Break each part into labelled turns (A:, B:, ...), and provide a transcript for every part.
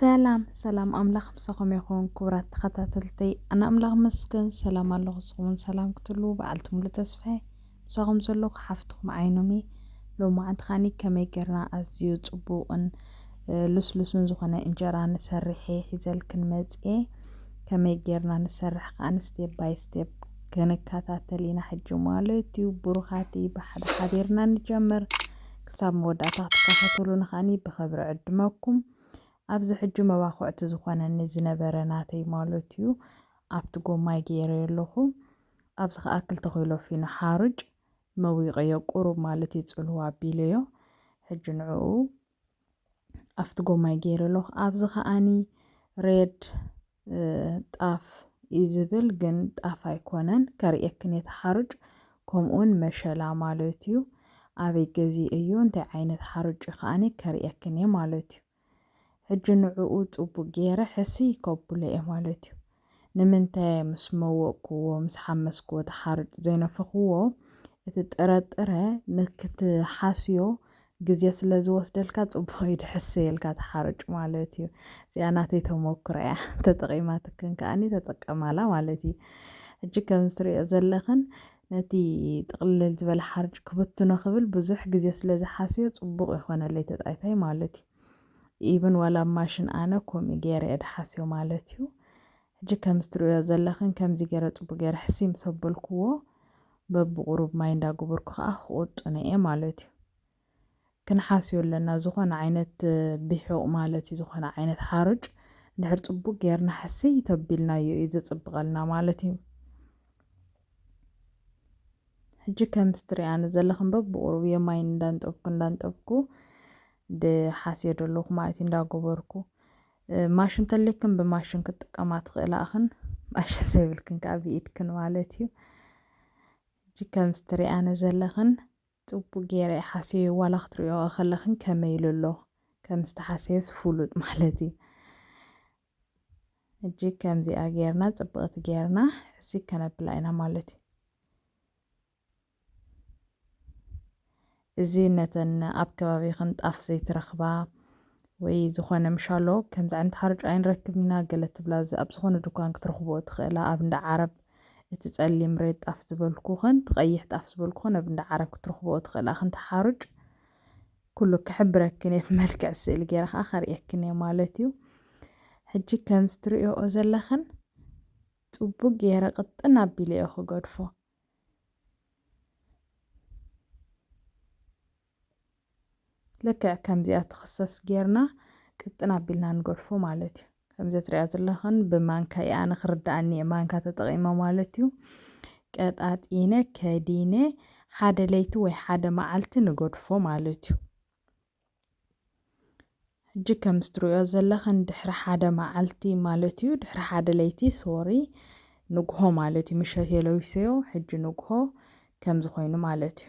A: ሰላም ሰላም ኣምላኽ ምሳኹም ይኹን ክቡራት ተኸታተልተይ ኣነ ኣምላኽ መስገን ሰላም ኣለኹ ንስኹምን ሰላም ክትህልዉ በዓልቲ ሙሉ ተስፋየ ምሳኹም ዘለኹ ሓፍትኹም ዓይኖም እየ ሎማዓንቲ ኻኒ ከመይ ጌርና ኣዝዩ ፅቡቕን ልስሉስን ዝኾነ እንጀራ ንሰርሕ እየ ሒዘልክን መፅየ ከመይ ጌርና ንሰርሕ ከዓ ስቴፕ ባይ ስቴፕ ክንከታተል ኢና ሕጂ ማለት እዩ ብሩኻትይ ብሓደ ሓቢርና ንጀምር ክሳብ መወዳእታ ክትከታተሉኒ ከኣኒ ብኽብሪ ዕድመኩም። ኣብዚ ሕጂ መባኹዕቲ ዝኾነኒ ዝነበረ ናተይ ማለት እዩ ኣብቲ ጎማይ ገይረዮ ኣለኹ። ኣብዚ ከኣ ክልተ ኪሎ ፊኖ ሓሩጭ መዊቐዮ ቁሩብ ማለት እዩ ጽልዋ ኣቢለዮ። ሕጂ ንዕኡ ኣብቲ ጎማይ ገይረ ኣለኹ። ኣብዚ ከኣኒ ሬድ ጣፍ እዩ ዝብል ግን ጣፍ ኣይኮነን ከርእየክን እየ ተሓርጭ ከምኡውን መሸላ ማለት እዩ ኣበይ ገዜ እዩ እንታይ ዓይነት ሓርጭ ከዓኒ ከርእየክን እየ ማለት እዩ ሕጂ ንዕኡ ጽቡቅ ገይረ ሕስይ ከብሎ እየ ማለት እዩ ንምንታይ ምስ መወቕኩዎ ምስ ሓመስኩዎ ተሓርጭ ዘይነፈኽዎ እቲ ጥረጥረ ንክትሓስዮ ግዜ ስለ ዝወስደልካ ጽቡቕ እዩ ድሕሰየልካ እቲ ሓርጭ ማለት እዩ። እዚኣ ናተይ ተመኩሮ እያ ተጠቒማትክን ከኣኒ ተጠቀማላ ማለት እዩ። ሕጂ ከም ዝትርእዮ ዘለኽን ነቲ ጥቕልል ዝበለ ሓርጭ ክብትኖ ክብል ብዙሕ ግዜ ስለ ዝሓስዮ ጽቡቕ ይኾነለይ ተጣይታይ ማለት እዩ። ኢብን ዋላ ኣብ ማሽን ኣነ ከምኡ ገይረ እየ ድሓስዮ ማለት እዩ። ሕጂ ከምዚ ትርእዮ ዘለኽን ከምዚ ገረ ጽቡቅ ገረ ሕስይ ምስ ኣበልክዎ በብቁሩብ ማይ እንዳ ገበርኩ ከኣ ክቁጥኖ እየ ማለት እዩ። ክንሓስዮ ኣለና ዝኮነ ዓይነት ቢሑቅ ማለት እዩ ዝኮነ ዓይነት ሓሩጭ እንድሕር ጽቡቅ ገርና ሕስይ ተቢልናዮ እዩ ዘጽብቀልና ማለት እዩ። ሕጂ ከምዚ ትርእያኒ ዘለኽን በብቁሩብ እየ ማይ እንዳንጠብኩ እንዳንጠብኩ ድሓስዮ ደለኹ ማለት እዩ እንዳ ገበርኩ። ማሽን ተልክን ብማሽን ክትጥቀማ ትኽእላ እኽን ማሽን ዘይብልክን ከዓ ብኢድክን ማለት እዩ እጂ ከም ዝትሪኣነ ዘለኽን ፅቡቅ ገይረ ሓስዮ ዋላ ክትሪኦ ከለኽን ከመይ ኢሉ ኣሎ ከም ዝተሓሰየስ ፍሉጥ ማለት እዩ እጂ ከምዚኣ ገይርና ፅብቕቲ ገይርና እዚ ከነብላ ኢና ማለት እዩ እዚ ነተን ኣብ ከባቢኽን ጣፍ ዘይትረኽባ ወይ ዝኾነ ምሻሎ ከምዚ ዓይነት ሓርጭ ኣይንረክብን ኢና ገለ ትብላ እዚ ኣብ ዝኾነ ድኳን ክትረኽብኦ ትኽእላ ኣብ እንዳ ዓረብ እቲ ጸሊም ሬድ ጣፍ ዝበልኩኽን እቲ ቀይሕ ጣፍ ዝበልኩኽን ኣብ እንዳ ዓረብ ክትረኽብኦ ትኽእላ ክንቲ ሓርጭ ኩሉ ክሕብረክን እየ ብመልክዕ ስእሊ ገይረ ከዓ ከርእየክን እየ ማለት እዩ ሕጂ ከምዚ ትርእዮኦ ዘለኽን ጽቡቅ ገይረ ቅጥን ኣቢለ እየ ክገድፎ ልክዕ ከምዚኣ ትኽሰስ ጌርና ቅጥን ኣቢልና ንገድፎ ማለት እዩ ከምዚ ትሪያ ዘለኽን ብማንካ እዩ ኣነ ክርዳእኒ እየ ማንካ ተጠቒመ ማለት እዩ ቀጣጢነ ከዲነ ሓደ ለይቲ ወይ ሓደ መዓልቲ ንገድፎ ማለት እዩ ሕጂ ከም እትርእዮ ዘለኽን ድሕሪ ሓደ መዓልቲ ማለት እዩ ድሕሪ ሓደ ለይቲ ሶሪ ንግሆ ማለት እዩ ምሸት የለዊሰዮ ሕጂ ንግሆ ከምዚ ኮይኑ ማለት እዩ።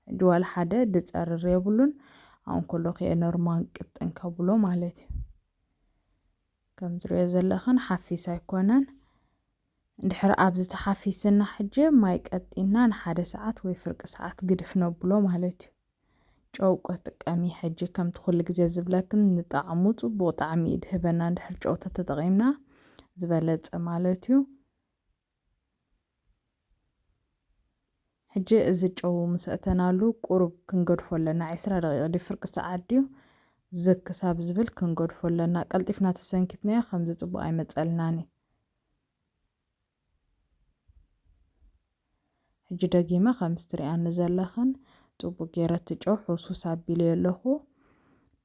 A: ሕጂ ዋላ ሓደ ዝጸርር የብሉን ኣብ እንኮሎ ኪኣ ኖርማል ቅጥን ከብሎ ማለት እዩ። ከም እትርእዮ ዘለኽን ሓፊስ ኣይኮነን። ድሕሪ ኣብዚ ተሓፊስና ሕጂ ማይ ቀጢንና ንሓደ ሰዓት ወይ ፍርቂ ሰዓት ግድፍ ነብሎ ማለት እዩ። ጨው ቅጥቀሚ ሕጂ ከምቲ ኩሉ ግዜ ዝብለክን ንጣዕሙ ጽቡቅ ጣዕሚ እዩ ድህበና እንድሕር ጨው ተተጠቂምና ዝበለጸ ማለት እዩ። ሕጂ እዚ ጨው ምስ ኣእተናሉ ቁሩብ ክንገድፎ ኣለና ዕስራ ደቂቅ ድዩ ፍርቂ ሰዓት ድዩ ዝግ ክሳብ ዝብል ክንገድፎ ኣለና ቀልጢፍና ተሰንኪትናዮ ከምዚ ጽቡቅ ኣይመጸልናን እዩ። ሕጂ ደጊመ ከምዚ ትሪኣኒ ዘለኽን ጽቡቅ ጌረ እቲ ጨው ሕውስውስ ኣቢለዮ ኣለኹ።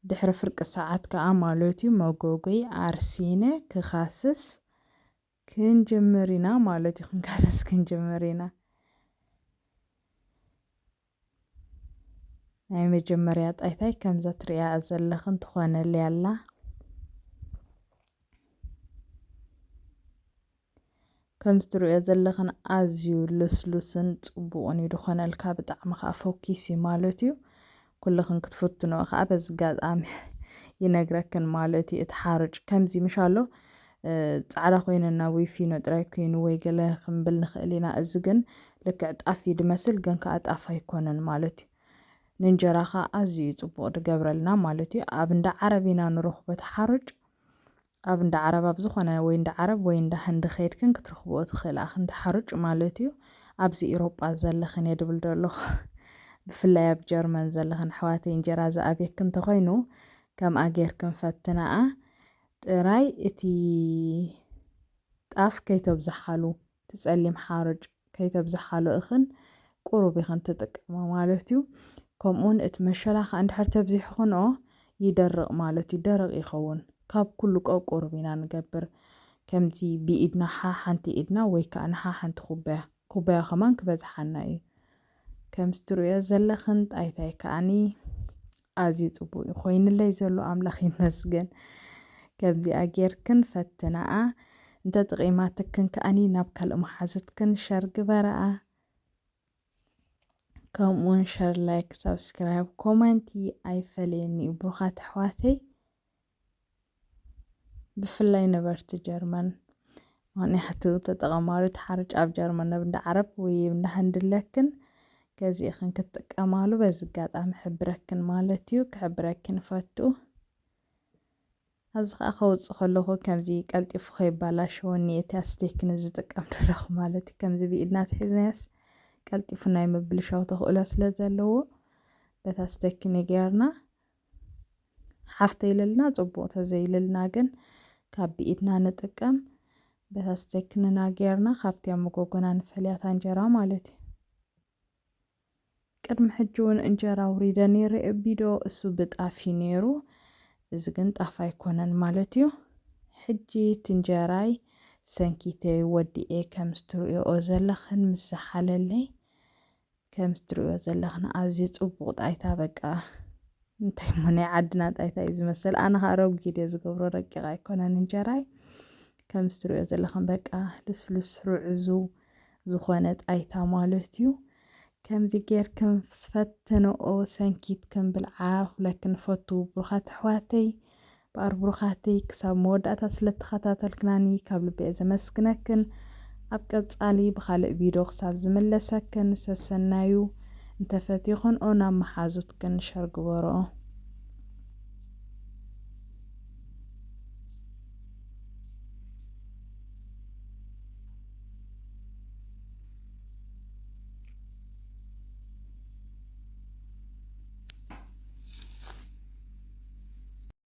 A: ድሕሪ ፍርቂ ሰዓት ከኣ ማለት እዩ መጎጎይ ኣርሲነ ክኻስስ ክንጅምር ኢና ማለት እዩ ክንካስስ ክንጅምር ኢና። ናይ መጀመርያ ጣይታይ ከምዛ ትሪኣያ ዘለኽን ትኾነልይ ኣላ። ከምዚ ትሪእዮ ዘለኽን ኣዝዩ ልስሉስን ጽቡቕን እዩ ዝኾነልካ ብጣዕሚ ከዓ ፎኪስ እዩ ማለት እዩ ኩልኽን ክትፍትኖ ከዓ በዚ ኣጋጣሚ ይነግረክን ማለት እዩ እቲ ሓርጭ ከምዚ ምሻሎ ጻዕዳ ኮይነና ወይ ፊኖ ጥራይ ኮይኑ ወይ ገለ ክንብል ንኽእል ኢና። እዚ ግን ልክዕ ጣፍ እዩ ድመስል ግን ከኣ ጣፍ ኣይኮነን ማለት እዩ። ንእንጀራ ከኣ ኣዝዩ እዩ ጽቡቕ ድገብረልና ማለት እዩ። ኣብ እንዳ ዓረብ ኢና ንረኽቦ እቲ ሓሩጭ። ኣብ እንዳ ዓረብ ኣብ ዝኾነ ወይ እንዳ ዓረብ ወይ እንዳ ህንዲ ከይድክን ክትረኽብኦ ትኽእላ ኢኽን እቲ ሓሩጭ ማለት እዩ። ኣብዚ ኢሮጳ ዘለኽን እየ ድብል ደለኹ። ብፍላይ ኣብ ጀርመን ዘለኽን ኣሕዋተይ እንጀራ ዝኣብየክን እንተኾይኑ ከምኣ ጌርክን ፈትናኣ። ጥራይ እቲ ጣፍ ከይተብዝሓሉ እቲ ጸሊም ሓርጭ ከይተብዝሓሉ እኽን ቁሩብ ኢኽን ትጥቀማ ማለት እዩ። ከምኡውን እቲ መሸላ ከኣ እንድሕር ተብዚሕኽንኦ ይደርቕ ማለት እዩ፣ ደረቕ ይኸውን። ካብ ኩሉ ቀቁሩብ ኢና ንገብር። ከምዚ ብኢድና ሓሓንቲ ኢድና ወይ ከኣ ንሓሓንቲ ኩባያ፣ ኩባያ ከማን ክበዝሓና እዩ። ከምቲ ትርእዮ ዘለኽን ጣይታይ ከኣኒ ኣዝዩ ጽቡቅ እዩ ኮይንለይ ዘሎ ኣምላኽ ይመስገን ከምዚኣ ጌርክን ፈትናኣ እንተ ጥቂማትክን ከኣኒ ናብ ካልእ መሓዝትክን ሸር ግበራኣ ከምኡውን ሸር ላይክ ሳብስክራይብ ኮመንቲ ኣይፈለየኒ እዩ ብሩኻት ኣሕዋተይ ብፍላይ ነበርቲ ጀርመን ምክንያቱ ተጠቐማሪ ተሓርጭ ኣብ ጀርመን ናብ እንዳ ዓረብ ወይ እንዳ ህንዲ ኣለክን ገዚእኽን ክትጥቀማሉ በዚ ኣጋጣሚ ሕብረክን ማለት እዩ ክሕብረክን ፈቱ ኣብዚ ከዓ ከውፅእ ከለኹ ከምዚ ቀልጢፉ ከይባላሸወኒ እቲ ኣስቴክን ዝጥቀም ዘለኹ ማለት እዩ ከምዚ ብኢድና ትሒዝናያስ ቀልጢፉ ናይ ምብልሻው ተኽእሎ ስለ ዘለዎ በታ ኣስቴክን ጌርና ሓፍተይ ኢልና ጽቡቕ ተዘይልልና ግን ካብ ብኢድና ንጥቀም በታ ስተክንና ጌርና ካብቲ ኣብ መጎጎና ንፈልያታ እንጀራ ማለት እዩ ቅድሚ ሕጂ እውን እንጀራ ውሪደ ነይረ ቢዶ እሱ ብጣፍ እዩ ነይሩ እዚ ግን ጣፍ ኣይኮነን ማለት እዩ ሕጂ እቲ እንጀራይ ሰንኪተይ ወዲኤ ከምስትርእኦ ዘለኽን ምስ ዝሓለለይ ከምቲ ትርእዮ ዘለኽን ኣዝዩ ጽቡቕ ጣይታ በቃ እንታይ እሞ ናይ ዓድና ጣይታ እዩ ዝመስል ኣነ ከዓ ረጒድ እየ ዝገብሮ ረቂቕ ኣይኮነን እንጀራይ ከምቲ ትርእዮ ዘለኽን በቃ ልስሉስ ርዕዙ ዝኾነ ጣይታ ማለት እዩ ከምዚ ጌርክም ስፈትንኦ ሰንኪትክም ብልዓ ኩለክን ፈቱ ብሩኻት ኣሕዋተይ እምበኣር ብሩኻተይ ክሳብ መወዳእታ ስለ ተኸታተልክናኒ ካብ ልቢ'የ ዘመስግነክን ኣብ ቀጻሊ ብኻልእ ቪዶ ክሳብ ዝምለሰክን ሰሰናዩ እንተ ፈቲኽንኦ ናብ መሓዙትክን ሸር ግበርኦ።